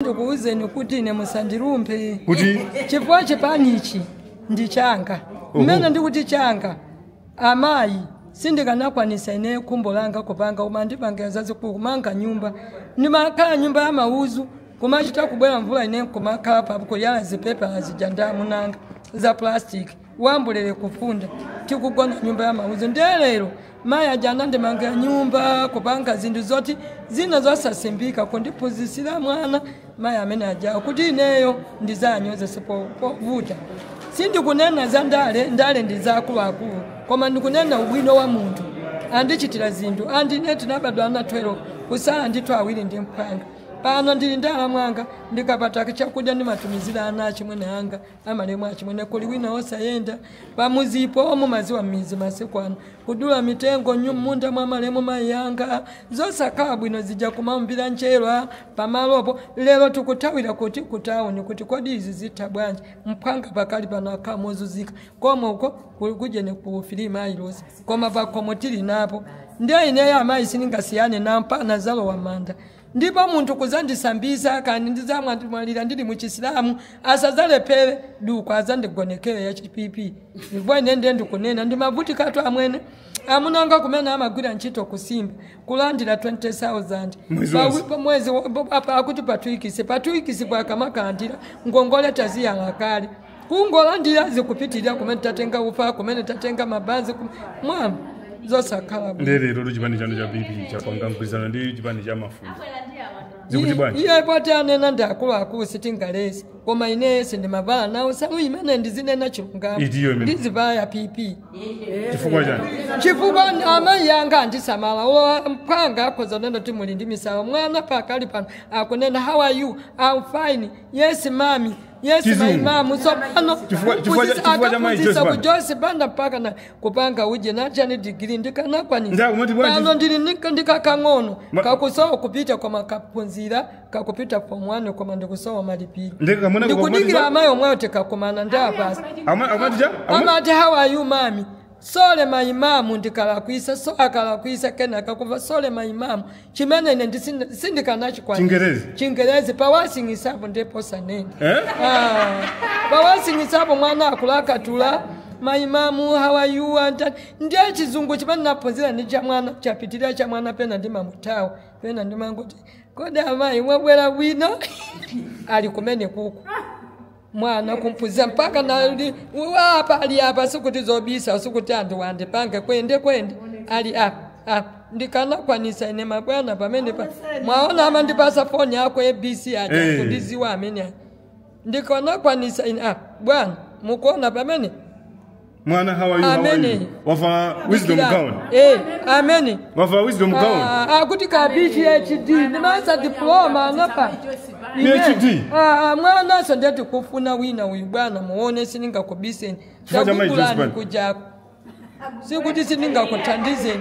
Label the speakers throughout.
Speaker 1: ndikuwuzeni kuti ine musandilumphe Kuti? chifukwa chipanichi ndi changa mmene ndikuti changa amayi sindikanakwanisa ine khumbo langa kupanga koma ndipangira zazikulu kumanga nyumba ndimakhala nyumba ya mauzu kumachita kubwera mvula ine kumakhala papo kuyala zipepala zija ndi amunanga za plastic wambulele kufunda tikugona nyumba ya mauzu ndiye lero mayi aja anandimangira nyumba kupanga zinthu zoti zina zosasimbika kundiphunzitsira mwana mayi amene ajawo kuti ineyo ndizanyozeso povota sindikunena za ndale ndale ndi za akuluakulu koma ndikunena ubwino wa munthu andichitira zinthu and ine tinabadwa ana 12 kusala ndithu awiri ndi mphwanga pano ndili ndala mwanga ndikapata chakudya ndimatumizira ana achimwene anga Amalemu achimwene kuli wina osayenda pamuzipo mumaziwa mmizi masiku ano kudula mitengo nyu mmunda mwa malemu mayi anga zosakhala bwino zija kumaumbila njerwa pamalopo lero tikuthawira kuti ku town kuti kodi izi zitha bwanji mphwanga pakali pano akhala mozuzika komwe uko ku ujeni ku filima ailosi koma pakhomo tili napo nde ineyo amayi sindingasiyane nawo mpaka nzalowa mmanda Ndipo munthu kudzandisambitsa, kani, ndidzamwalira ndili mu Chisilamu, asadzalephere duku adzandigonekere ya chi PP. Ndipo ine ndiye ndikunena, ndimavutikatu amwene. Amuna anga kumene amagwira ntchito ku Simba, kulandira 20,000. Mwezi Pa- wonse. pa mwezi wa- pa- pa- akuti pa two weeks. Pa two weekspo akamakalandira, ngongole taziyala kale. kungolandira zikupitirira kumene tatenga ufa kumene tatenga mabanzi kum- mwa zosakhala bwino. nde lerotu
Speaker 2: chipani chanu cha pp chapanga mgwirizano ndi chipani cha mafumu zikuti bwanji iye poti anena ndi
Speaker 1: akuluakulu sitingaletse koma ineyo sindimavala nawo nsalu imene ndizinena chilungamo Idiyo imene. ndizivala ya pp chifukwa
Speaker 2: chani
Speaker 1: chifukwa amayi anga andisamala owa mphwanga akhoza kunena kuti muli ndi misala mwana pakali pano akunena how are you I'm fine yes mami Yes, my mom. Tsopano Chifukwa- chifukwa cha- chifukwa
Speaker 2: cha Mayi Joyce Banda. Joyce Banda
Speaker 1: mpaka na kupanga uje na chani degree ndikanakwanisa. Pano ndili ndi kakang'ono kakusowa kupita koma kakhonza kakupita form 1 koma ndikusowa malipiro. Ndikudikira amayi omwewo tikakumana ndapasa. Amati how are you mami? Sorry my mom ndikalakwisa, so akalakwisa kena kakumva sorry my mom chimene ine ndi sin- sindikanachikwanisa. Chingerezi? Chingerezi pawasingisapo ndipo sanene. Eh? Ah, pawasingisapo mwana akulakatula my mom how are you and that. ndiye chizungu chimene naphunzira ndi cha mwana chapitirira cha mwana pena ndimamutawa pena ndimangoti kodi amayi mwabwera bwino ali kumene kuku mwana kumphunzira mpaka nali apa ali apa sikuti zobisa sikuti anthu wandipange kwende kwende ali apa apa ndikanakwanisa ine mabwana pamene pa mwaona amandipasa foni yako abc Eh. aja kundiziwa amene aja. ndikanakwanisa ine apa bwana mukuona pamene
Speaker 2: mwana how are you, how are Amene. you?
Speaker 1: wavala
Speaker 2: wisdom Dikira. gown Eh,
Speaker 1: amene wavala
Speaker 2: wisdom gown Ah, ah, kuti ka
Speaker 1: phd ndi masa diploma angapa Ine,
Speaker 2: PhD? ah, ah,
Speaker 1: mwanaso ndatikufuna wina uyu bwana muone sindingakubiseni Chifukwa cha Mai Joyce takugulani Banda. kujako sikuti sindingakuthandizeni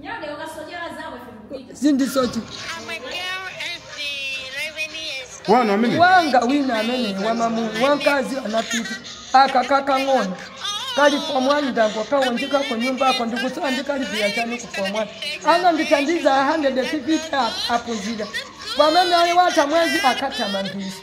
Speaker 1: Nyage ukasochera
Speaker 2: zako ife tikupita. sindisochera I'm a girl and the 11 years old. wanu amene wanga
Speaker 1: wina amene wamamu wankazi anapita aka kakang'ono kali form 1 ndangokawonjeza ku nyumba ako ndikusowa ndikalipira chani ku form 1 anandithandiza 150 aphunzire pamene ali watha mwezi akathamangisa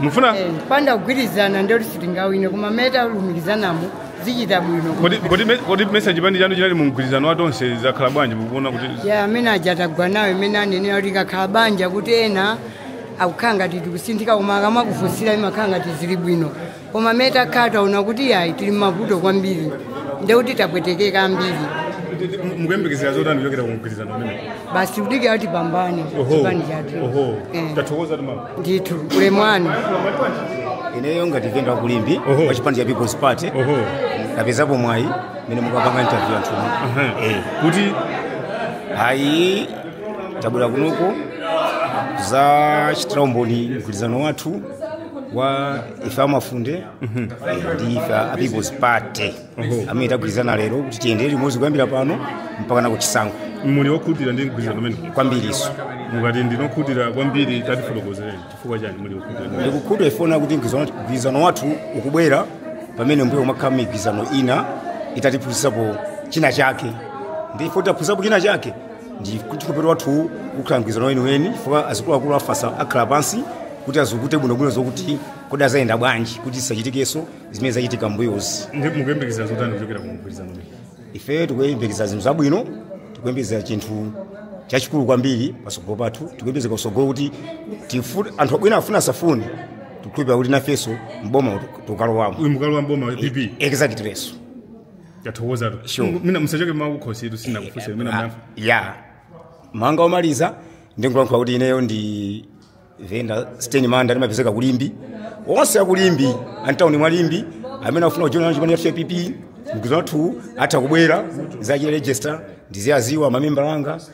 Speaker 2: mufuna Eh, panda
Speaker 3: kugwirizana nde sitingawine koma mmene talumikizanamo zichita bwino kodi kodi me- kodi mesa
Speaker 2: chipani chanu chinali mu mgwirizano wa tonse zakhala bwanji mukuona
Speaker 3: kuti
Speaker 2: ya
Speaker 3: amene aja atagwa
Speaker 2: nawo
Speaker 3: imene anenera kuti kakhala banja kuti ena akukhala ngati tikuzunzika koma akamakufunsira imakhala ngati zili bwino koma amene takhala taona kuti yayi tili mmavuto kwambiri ndekuti tapwetekeka ambiri
Speaker 2: mukuyembekezera zotani kuchokera ku mgwirizano umenewu basi kudikira kuti
Speaker 3: pambane Oho. chipani chathu Oho. Eh, tathokoza
Speaker 2: mama ndithu ulemu
Speaker 3: wanu
Speaker 4: ineyo ngati venda wa ku Limbe Oho. wa chipani cha people's party Oho. tapezapo mwayi mene mukupanga interview anthu Eh. kuti ayi tabwera kunoko kuzachitira umboni mgwirizano wathu wa ife a Mafunde eh, ndi ife a people's party amene tagwirizana lero kuti tiyendere limodzi kuyambira pano mpaka nakuchisankho muli okhutira ndi
Speaker 2: mgwirizano umene kwambiriso
Speaker 4: mukati ndinu
Speaker 2: okhutira kwambiri tatifotokozereni chifukwa chani muli okhutira ndi- ndikukhutira poona
Speaker 4: kuti mgwirizano- mgwirizano wathu ukubwera pamene mbuyo umakhala migwirizano ina itatiphunzitsapo china chake ndi ife titaphunzirapo china chake ndi kuti lero wathu ukhala mgwirizano weniweni chifukwa azikuluakulu afatsa akhala pansi kuti azukute bwinobwino zokuti kodi azayenda bwanji kuti zisachitikenso zimene zachitika mbuyozi Ndi- mukuyembekezera zotani
Speaker 2: kuchokera ku mgwirizano umenewu? ife tikuyembekezera
Speaker 4: zinthu zabwino tikuyembekezera chinthu chachikulu kwambiri pasogolo pathu tikuyembekezera kusogolo kuti tifu- anthu abwino afuna asafune tikukhulupirira kuti nafenso mboma tikalowamo uyu mukalowa mboma wa pp
Speaker 2: exactly leso yathokoza tu Sure. M- mina musachoke mawu kukhositu sindinakufunseni mina
Speaker 4: Ah, mawu anga omaliza ndingolankhula kuti ineyo ndi venda sten manda ndimapezeka ku Limbe onse a ku Limbe amtawuni mwa Limbe amene akufuna kujoina chipani cha pp mgwirizano wathu atha kubwera kuzachita register ndiziwaziwa mamembala anga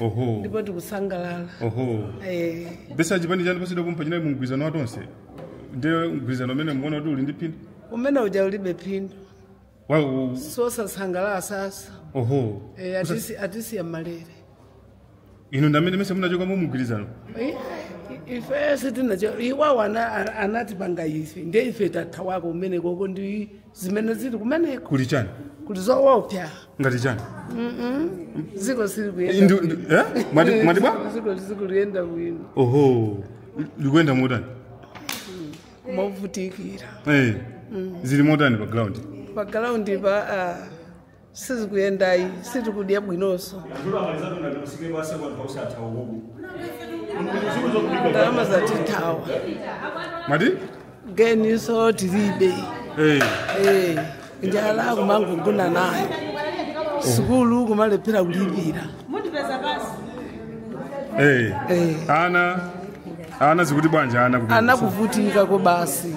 Speaker 5: oho
Speaker 2: ndipo
Speaker 5: tikusangalala
Speaker 2: oho Eh, mesa chipani chanu pasidwa kumpha chinayi mumgwirizano wa tonse ndiye mgwirizano umene mukuona kuti uli ndi phindu umene uja ulibe
Speaker 5: phindu Wa- u- sosasangalala sasa oho
Speaker 2: Eh, atisi-
Speaker 5: atisiya mmalere
Speaker 2: inu ndi amene mesa munachoka mumgwirizano
Speaker 5: Eh, ife sitinachoke iwowo ana- ana- anatipanga ife nde ife tathawako umene koko ndi zimene zili kumeneko kuli chani
Speaker 2: kuli
Speaker 5: zowopsa ngati chani ziko silikuyenda Ndu- ndu- eh? mwati mwati bwa
Speaker 2: ziko silikuyenda
Speaker 5: bwino
Speaker 2: oho likuyenda motani
Speaker 5: movutikira Eh.
Speaker 2: zili motani pa ground pagalaundi pa ah,
Speaker 5: sizikuyendayi sitikudya bwinonso ndalama zatithawa mwati
Speaker 2: geninso
Speaker 5: tilibe Eh, Eh, njala kumangogona nayo sukulu kumalephera kulipira eh. Eh.
Speaker 2: ana ana zikuti bwanji ana kumeneko? ana
Speaker 5: akuvutikako basi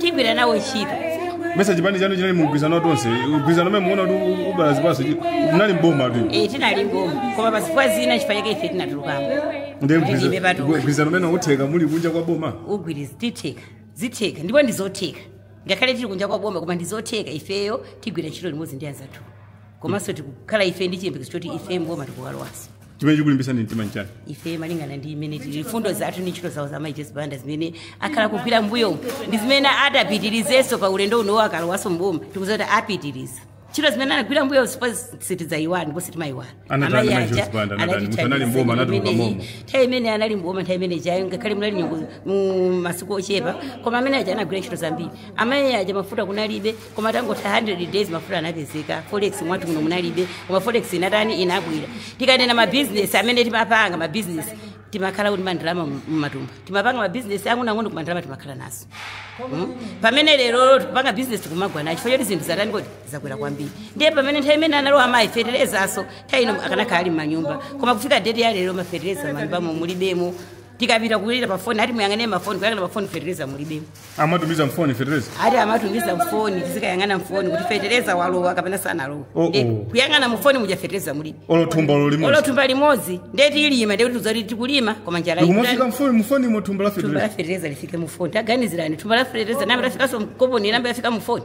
Speaker 6: tigwira nawo ntchito mesa chipani
Speaker 2: chanu chinali mu mgwirizano wa Tonse mgwirizano umene muona kuti u- ubala zipatso chi- munali mbomatu Eh, tinali mboma koma
Speaker 6: pazifukwa zina chifukwa chake ife tinatulukamo ndiye Kuti ndibe patuka.
Speaker 2: mgwirizano umene utheka muli kunja kwa boma ugwirizi
Speaker 6: zitheka zitheka ndipo ndizotheka ngakhale tili kunja kwa boma koma ndizotheka ifeyo tigwira ntchito limodzi ndi anzathu komanso tikukhala ife ndi chiyembekezo choti ife mboma tikukalowanso chimene
Speaker 2: chikulimbitsani mtima nchani ife malingana
Speaker 6: ndi imene tili mfundo zathu ndi ntchito zawo za Mai Joyce Banda zimene akhala akugwira mbuyo ndi zimene atapitirizenso pa ulendo uno wakalowanso mboma tikuziwa kuti apitiriza ntchito zimene anagwira mbuyo sitidzayiwala ndipo sitimayiwala Anatani Amayi Mai Joyce aja Banda, anatani? anatithandiza Muthu anali mboma, anatuluka imeneyi. momo. nthawi imene anali mboma nthawi imene ijayo ngakhale munali nyengo mu masiku ochepa koma amene aja anagwira ntchito zambiri amayi aja mafuta kunalibe koma patangotha 100 days mafuta anapezeka forex mwathu muno munalibe koma forex inatani inabwera tikanena mabizinesi mmene timapanga mabizinesi timakhala kuti mandalama mumatumba timapanga mabizinesi ang'onoang'ono koma ndalama timakhala nazo Mm. pamene lero tikupanga bizinesi kumagwa nacho chifukwa choti zinthu zatani kodi zakwera kwambiri ndiye pamene nthawi imene analowa mafeterezaso nthawi ino akanakhala ali m'manyumba koma kufika deti ya lero mafetereza m'manyumbamo mulibemo tikapita kulira pa foni ati muyang'ane mafoni kuyang'ana mafoni fetereza mulibemo amatumiza
Speaker 2: mfoni fetereza ati
Speaker 6: amatumiza mfoni tizikayang'ana mfoni kuti fetereza walowa kapena sanalowa Oh, Nde- oh. kuyang'ana mufoni muja fetereza mulibe olo thumba olo limodzi olo thumba limodzi nde tilima ndekuti tizati tikulima koma njala ikumafika ikutani. mfoni mufoni
Speaker 2: mo thumba la thumba la fetereza fetereza lifike
Speaker 6: mufoni taganizirani thumba la fetereza m'mene lafikanso mkoponi m'mene lafika mufoni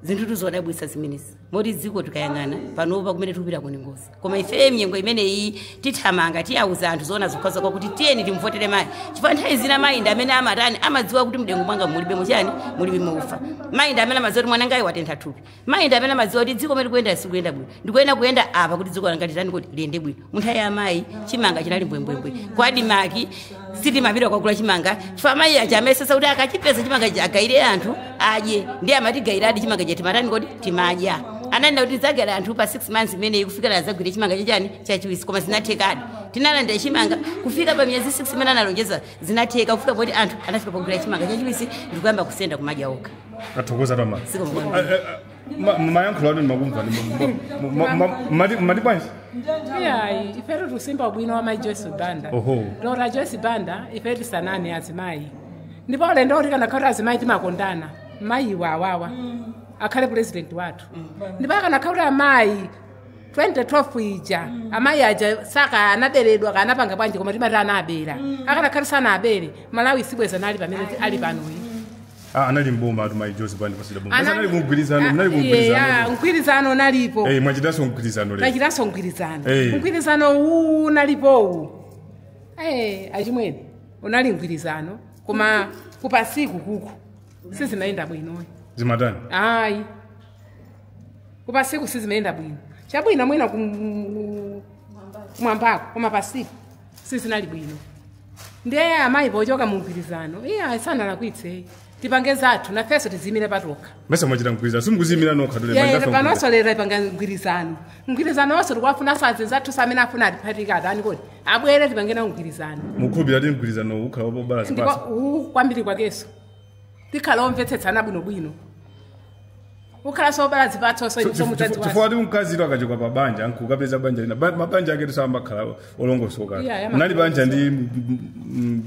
Speaker 6: zinthu tuzodabwisa zimenezi moti dziko tikayang'ana panopa kumene tikupita kuli ngozi koma ifeye mnyengo imeneyi tithamanga tiyauza anthu zoona zokhazokha kuti tiyeni timvotere mayi chifukwa nthawi zina mayi ndi amene amatani amadziwa kuti mdengu mwanga mulibe muchani mulibe maufa mayi ndi amene amadziwa kuti mwanangayi watentha thupi mayi ndi amene amadziwa kuti dziko mmene likuyenda silikuyenda bwino ndikuyenda kuyenda apa kuti dziko langa litani kuti liyende bwino munthawi ya mayi chimanga chinali mbwembwembwe kwa ADMARC sitimapita kwagula chimanga chifukwa amayi aja amayesetsa kuti akachipeza chimanga chi agawire anthu adye ndiye amatigawiradi chimanga cha timatani kodi timadya ananena kuti tidzagawira anthu pa 6 months imeneyi kufikira adzagwire chimanga chachani chachiwisi koma zinathekadi tinalandira chimanga kufika pa miyezi 6 imene analonjeza zinatheka kufika poti anthu anafika pogwira chimanga chachiwisi ndikuyamba kusenda kumadya okha tathokoza toma
Speaker 2: Siko mwana. Ah, ah, ah, Ma- mayankhulo anu ndimakumva mmati bwanji
Speaker 7: iyayi ifetu tikusimba ubwino wa mayi joyce banda Oho. lora joyce banda ife timasanana azimayi ndipo ulendo uti ukanakhala kuti azimayi timakondana mayi awawa akhale pulezidenti wathu ndipo akanakhala kuti amayi 2012 ija amayi aja sakanaberedwa akanapanga bwanji koma timati anabera akanakhala kuti sanabere malawi sibwenzi ali pamene ali panoyi Ah,
Speaker 2: anali m'bomatu mayi Joyce Banda pa sitepe Boma. Anali- Anali kumgwirizano, Ah, mnali yeah, kumgwirizano.
Speaker 7: mgwirizano unalipo Eh, mwachitanso
Speaker 2: mgwirizano lero. tachitanso mgwirizano Eh.
Speaker 7: mgwirizano uwu unalipowu Eh, achimwene unali mgwirizano koma kupansi kukuku sizimayenda bwino
Speaker 2: Zimatani?
Speaker 7: ayi kupansiku sizimayenda bwino chabwino mwina kum- kumwambako koma pansiku sizinali bwino ndiye amayi pochoka mu mgwirizano iyayi sanalakwitse tipange zathu nafenso tiziyimire patokha mesa mwachita mgwirizano
Speaker 2: simukuziyimira nokha tule Yeah, manja panonso afuna lero
Speaker 7: tipange mgwirizano mgwirizano wonse tikuwafunansa anzathunso amene afuna atiphatike atani kodi abwere tipange nawo mgwirizano mukhulupirira kuti mgwirizano
Speaker 2: ukhala wobala ndipo zipatso uwu kwambiri kwakenso
Speaker 7: tikhala omvetsetsana bwinobwino ukhala wobala zipatso so inunso mudzadziwa chifukwa
Speaker 2: ti mkazi to akachoka pa banja nkukapeza banja lina Ba- mabanja ake tu sayamba kukhala olongosoka Yeah, yeah, munali banja ndi m- m- m-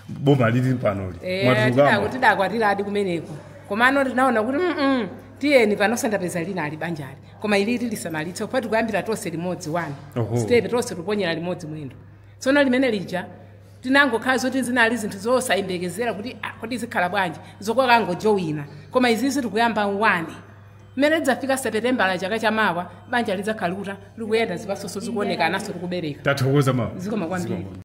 Speaker 2: boma lili panoli Eh, mwatulukamo tidaku-
Speaker 7: tidakwatiradi kumeneko komano tinaona kuti mm tiyeni panonso ndapeza lina ili banjali koma ili ili tilisamalitse popeza ti kuyambira tonse limodzi wani Oho. stepe tonse tiponyera limodzi mwendo tsono limene lija tinangokhala zoti zinali zinthu zosayembekezera kuti ah, kodi zikhala bwanji zokangojowina koma izizi tikuyamba wani mmene lidzafika sepetembala chaka chamawa banja lidzakhala likuta likuyenda zipatsonso zikuoneka nanso likubereka tathokoza mawa zikomo kwambiri